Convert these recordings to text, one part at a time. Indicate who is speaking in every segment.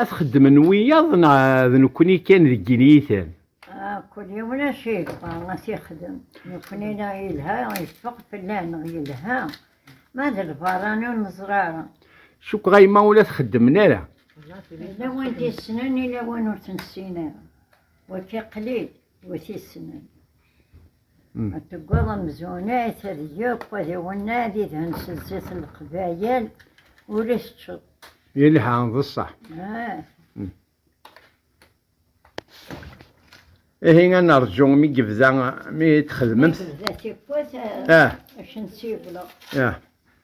Speaker 1: Ad xeddmen wiyaḍ neɣ d nekkni kan deg iniyiten? Ah, kul yiwen acu yebɣa ad t-yexdem. Nekkni neɣ yelha yeffeɣ fell-aɣ neɣ yelha. Ma d lbarani ur neẓri ara. Cukkeɣ a yemma ur la txeddmen ara. Yella win d-yessnen, yella win ur t-nessin ara. Wakka qlil win t-yessnen. Deggaḍ amzun ata d yakk ad iwenneɛ di dhen-s zzit n leqbayel ur as-ččeḍ. Yelha, d ṣṣeḥ. Ihi ad nerǧu mi yebda, mi txedmemt. Mi tebda tikwat, ad ak-n-ssiwleɣ.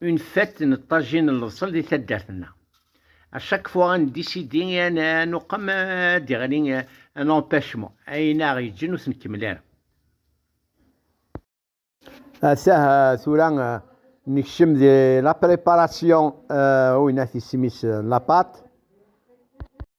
Speaker 1: une fête n ṭṭajin n lebṣel di taddart-nneɣ. À chaque fois ad décider et ad nuqem ad d-iɣli un empêchement, ayen aɣ yeǧǧen ur t-nkemmel ara. Atah tura nekcem di la préparation uyna tismis n la pâte.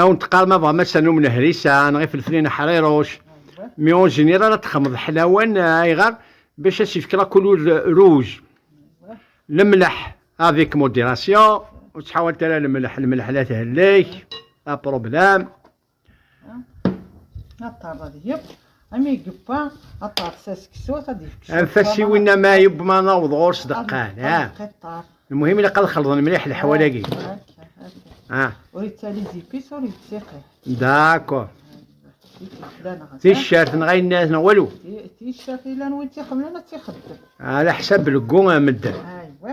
Speaker 1: Awen teqqar ma bɣam ass-a n umnehris-a neɣ ifelflen aḥriruc, mi ur zmir ara ad texmeḍ ḥlawan, ayɣer? Bac ad s-ifk la couleur rouge. Lemleḥ, avec modération, ur ttḥawalt ara lemleḥ, lemleḥ la thehlek, un problème. Ami yewwa ad taɣes aseksut ad yefk cwiṭ. Anef-as i winna ma yewwa ad naweḍ ɣur-s deqqan. Lmuhim ilaq ad xelḍen mliḥ leḥwal-agi. Ur yettali zipis ur yettiqi. Dakor. Ticcert neɣ ayen nniḍen neɣ walu. Ticcert yellan win tt-ixedmen ad tt-ixeddem. Ala ḥsab belgu medden. Aywa.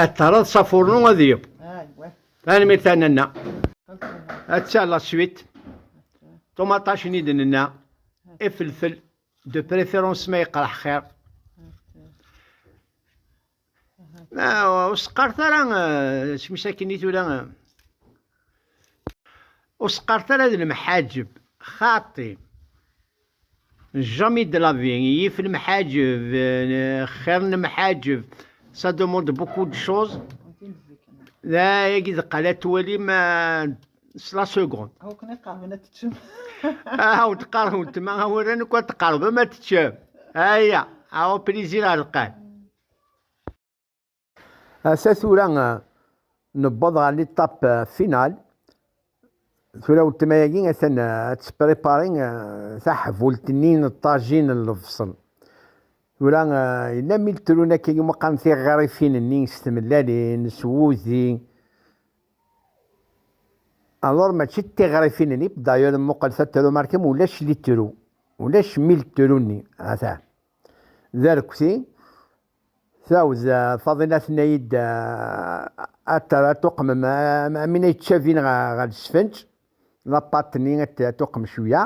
Speaker 1: Ad terreḍ s afurnu ad yeb. Tanemmirt a nanna. Atta la suite. Ṭumaṭac-nni d nenna. Ifelfel de préférence ma yeqreḥ xir. Ma ur seqqart ara smis akken i tura. Ur seqqart ara d lemḥaǧeb xaṭi. Jamais de la vie, yif lemḥaǧeb, xir n lemḥaǧeb, ça demande beaucoup de choses. D ayagi d qala twalim s la seconde. Aw kan iqerben ad teččem. Aw tqerben weltma awren akk ad tqerbem ad teččem. Aya, aw plaisir ar lqal. Ata tura newweḍ ɣer l'étape euh, finale. Tura weltma-agi atan euh, ad tprépari euh, taḥbult-nni n ṭajin n lebṣel. Tura yella mi lettrun akka yuma qqaren tiɣrifin-nni s tmellalin, s wudi. Alors mačči d tiɣrifin-nni, d'ailleurs mmuqqel tatrumarkim ulac littru, ulac mi lettrun-nni, ata. D arekti. Tɛawed Faḍila tenna-yi-d ad tuqmem amin ay ttcabin ɣer lesfenǧ, lapat-nni ad tuqem cwiya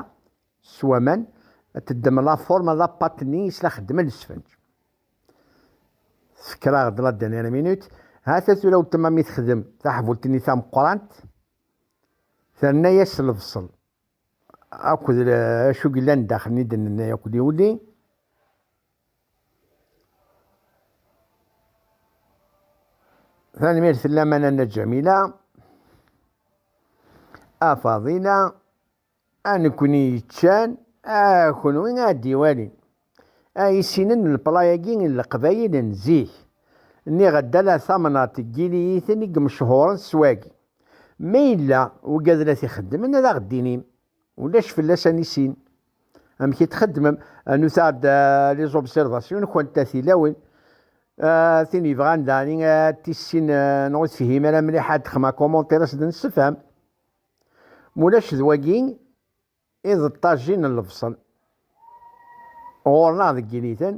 Speaker 1: s waman, ad teddem lafurma n lapat-nni is la xeddmen lesfenǧ. Tefker-aɣ-d la dernière minute, ha-t-a tura weltma mi texdem taḥbult-nni tameqqrant, terna-as lebṣel. akked acu yellan daxel n idenni akked yuli. Tanemmirt fell-aman a Nna Ǧamila, a Faḍila, a nekkni yeččan, a kunwi a d-iwalin. A isinen n lepla-agi n leqbayel n zik, nniɣ-d ala tamnaḍt n yiliyiten i yemchuren s wagi. Ma yella wegad la t-ixeddmen ad aɣ-d-tinim, ulac fell-as a nissin amek i t-txeddmem. Rnut-aɣ-d les observations-nkent a tilawin. Tin yebɣan daɣen ad tissin neɣ ur tefhim ara mliḥ ad d-texdem un commentaire ad s-d-nessefhem. Ma ulac d wagi. I d ṭṭajin n lebṣel. Ɣur-neɣ deg initen,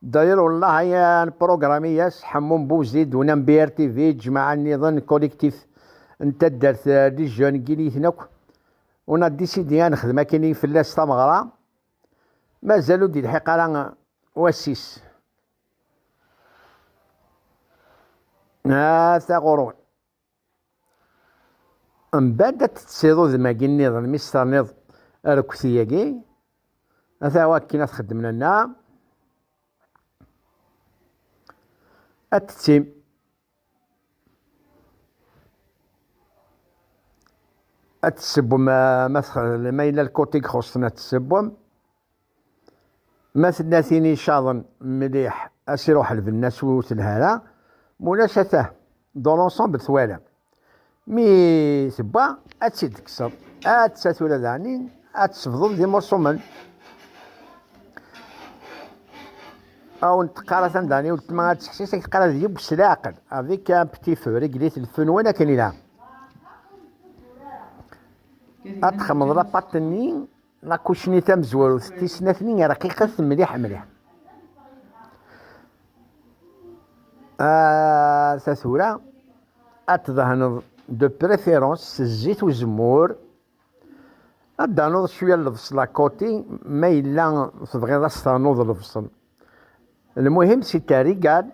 Speaker 1: Dayr Ullah ay n Programiyas, Ḥemmu n Buzid, Unam BRTV, Ǧmaɛa nniḍen, Collectif, n taddart Les Jeunes n yiniten akk. On a décidé ad nexdem akken i fell-as tameɣra. Mazal ur d-ilḥiq ara wass-is. Ata ɣur-wen. Mbadd ad teţţiḍ udem-agi nniḍen mi s-terniḍ arekti-agi, ata akken ad t-xeddmen anna, ad teţţim. Ad tessewwem ma yella lkuṭ i ixuṣṣen ad tessewwem. Ma tella tin icaḍen mliḥ a s-iruḥ lbenna s wi ur telha ara, ma ulac a tah dans l'ensemble twalam. Mi tewwa ad tt-id-tekkseḍ, atta tura daɣen ad tsebḍeḍ d imurṣumen. Aw n-teqqar atan daɣen i weltma ad teḥsis ad k-teqqar ad yeww s leɛqel, avec un petit feu, régler-t le feu n wan akken ilha. Ad txemmeḍ lapaṭ-nni Lakucni tamezwarut d tisnatni rqiqet mliḥ mliḥ. Ah, ta tura ad tdehneḍ de préférence s zzit uzemmur ad d-tanuḍ cwiya n lebṣel à côté ma yella tebɣiḍ ad s-ternuḍ lebṣel. Lmuhim c'est un régal.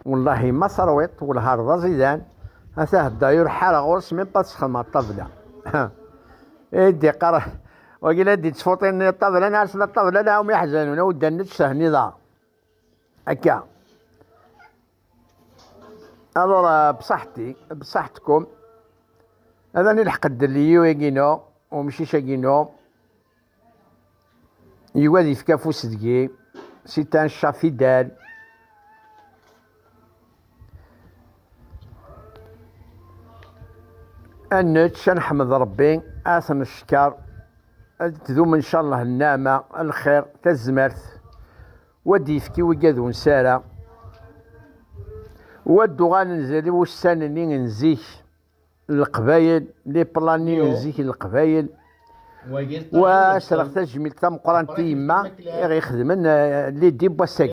Speaker 1: Wallahi ma terwiḍ welhar d aẓidan, ata hedday ur ḥareɣ ɣur-s même pas sxedmeɣ ṭṭabla. I d-yeqqar wagi la d-yettfuṭin ṭṭabla neɣ tella ṭṭabla la um iḥzanun aw ddan nečč tehniḍ-aɣ akka. Alors bsaḥti bsaḥtkum ad ani lḥeq ddel i yiwagi-inu umcic-agi-inu Yugi ad yefk afus deg-i, si tan cca fidèl. Ad nečč, ad neḥmed Rebbi, ad t-neckeṛ, ad tdum ncallah nneɛma, lxiṛ, tazmert, wa d-yefk i wigi ad unsara, wa d-uɣalen zerri wussan-nni n zik. Leqbayel, les plannings n zik n Leqbayel, wa sreɣ tajmilt tameqqrant i yemma i ɣ-ixedmen lidi n wass-agi.